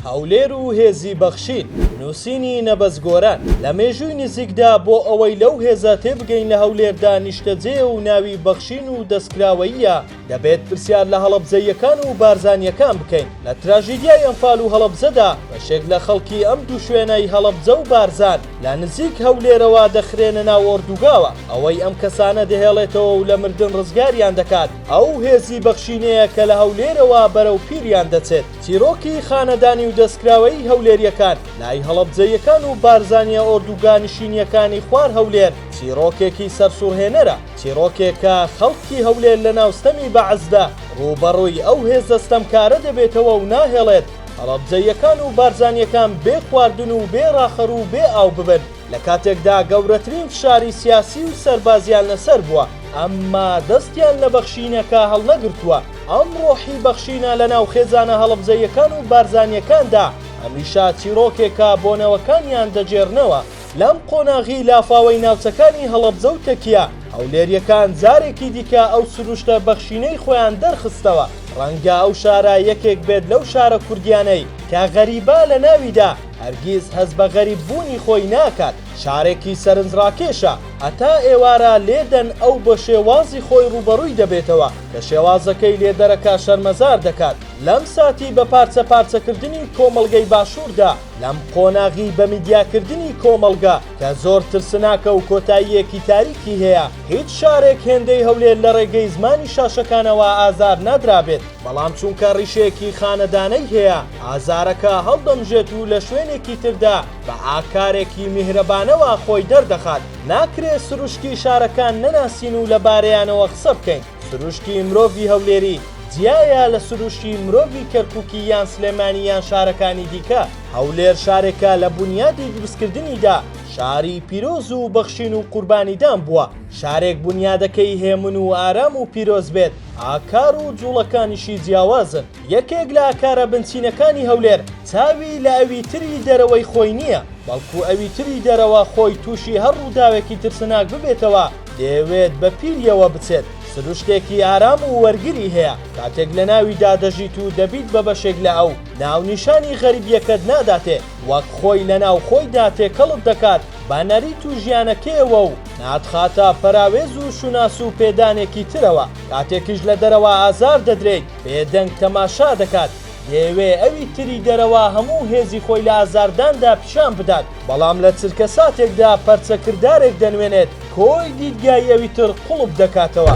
هەولێر و هێزی بەخشین. نووسینی، نەبەز گۆران، لە مێژووی نزیکدا بۆ ئەوەی لەو هێزە تێبگەین لە هەولێردا نیشتەجێیە و ناوی بەخشین و دەستکراوەییە، دەبێت پرسیار لە هەڵەبجەییەکان و بارزانییەکان بکەین، لە تراژیدیای ئەنفال و هەڵەبجەدا بەشێک لە خەڵکی ئەم دوو شوێنەی هەڵەبجە و بارزان لە نزیک هەولێرەوە دەخرێنە ناو ئۆردوگاوە، ئەوەی ئەم کەسانە دەهێڵێتەوە و لە مردن ڕزگاریان دەکات ئەو هێزی بەخشینەیە کە لە هەولێرەوە بەرەو پیریان دەچێت. چیرۆکی خانەدانی و دەستکراوەیی هەولێریەکان لای هەڵەبجەییەکان و بارزانیە ئۆردوگا نشینیەکانی خوار هەولێر چیرۆکێکی سەرسوڕهێنەرە، چیرۆکێک کە خەڵکی هەولێر لەناو ستەمی بەعسدا ڕووبەڕووی ئەو هێزە ستەمکارە دەبێتەوە و ناهێڵێت هەڵەبجەییەکان و بارزانیەکان بێ خواردن و بێ ڕاخەر و بێ ئاو ببن لەکاتێکدا گەورەترین فشاری سیاسی و سەربازیان لەسەر بووە ئەمما دەستیان لە بەخشینەکە هەڵنەگرتووە. ئەم ڕۆحی بەخشینە لە ناو خێزانە هەڵەبجەییەکان و بارزانییەکاندا هەمیشە چیڕۆکێکە بۆ نەوەکانیان دەگێڕنەوە، لەم قۆناغی لافاوەی ناوچەکانی هەڵەبجە و تەکیە، هەولێرییەکان جارێکی دیکە ئەو سروشتە بەخشینەی خۆیان دەرخستەوە، ڕەنگە ئەو شارە یەکێک بێت لەو شارە کوردییانەی کە غەریبە لە ناویدا هەرگیز هەست بە غەریب بوونی خۆی ناکات، شارێکی سەرنجڕاکێشە، هەتا ئێوارە لێدەن ئەو بە شێوازی خۆی ڕووبەڕووی دەبێتەوە. کە شێوازەکەی لێ دەرەکە شەرمەزار دەکات لەم ساتی بە پارچە پارچە کردنی کۆمەڵگەی باشوردا لەم قۆناغی بە میدیا کردنی کۆمەڵگە کە زۆر ترسناکە و کۆتاییەکی تاریکی هەیە هیچ شارێک هێندەی هەولێر لە ڕێگەی زمانی شاشەکانەوە ئازار نادرابێت بەڵام چونکە ڕیشەیەکی خانەدانەی هەیە ئازارەکە هەڵدەمژێت و لە شوێنێکی تردا بە ئاکارێکی میهرەبانەوە خۆی دەردەخات، ناکرێ سروشتی شارەکان نەناسین و لەبارەیانەوە قسە بکەین، سروشتی مرۆڤی هەولێری جیایە لە سروشتی مرۆڤی کەرکوکی یان سلێمانی یان شارەکانی دیکە، هەولێر شارێکە لە بونیادی دروستکردنیدا شاری پیرۆز و بەخشین و قوربانیدان بووە، شارێک بونیادەکەی هێمن و ئارام و پیرۆز بێت، ئاکار و جوڵەکانیشی جیاوازن. یەکێک لە ئاکارە بنچینەکانی هەولێر چاوی لە ئەوی تری دەرەوەی خۆی نییە، بەڵکو ئەوی تری دەرەوە خۆی تووشی هەر ڕووداوێکی ترسناک ببێتەوە دەیەوێت بە پیرییەوە بچێت، سروشتێکی ئارام و وەرگری هەیە کاتێک لە ناویدا دەژیت و دەبیت بە بەشێک لە ئەو، ناونیشانی غەریبییەکەت ناداتێ وەک خۆی لە ناو خۆیدا تێکەڵت دەکات بە نەریت و ژیانەکەیەوە و ناتخاتە پەراوێز و شوناس و پێدانێکی ترەوە، کاتێکیش لە دەرەوە ئازار دەدرێیت، بێدەنگ تەماشا دەکات، دەیەوێ ئەوی تری دەرەوە هەموو هێزی خۆی لە ئازارداندا پیشان بدات، بەڵام لە چرکەساتێکدا پەرچەکردارێک دەنوێنێت، کۆی دیدگای ئەوی تر قوڵپ دەکاتەوە.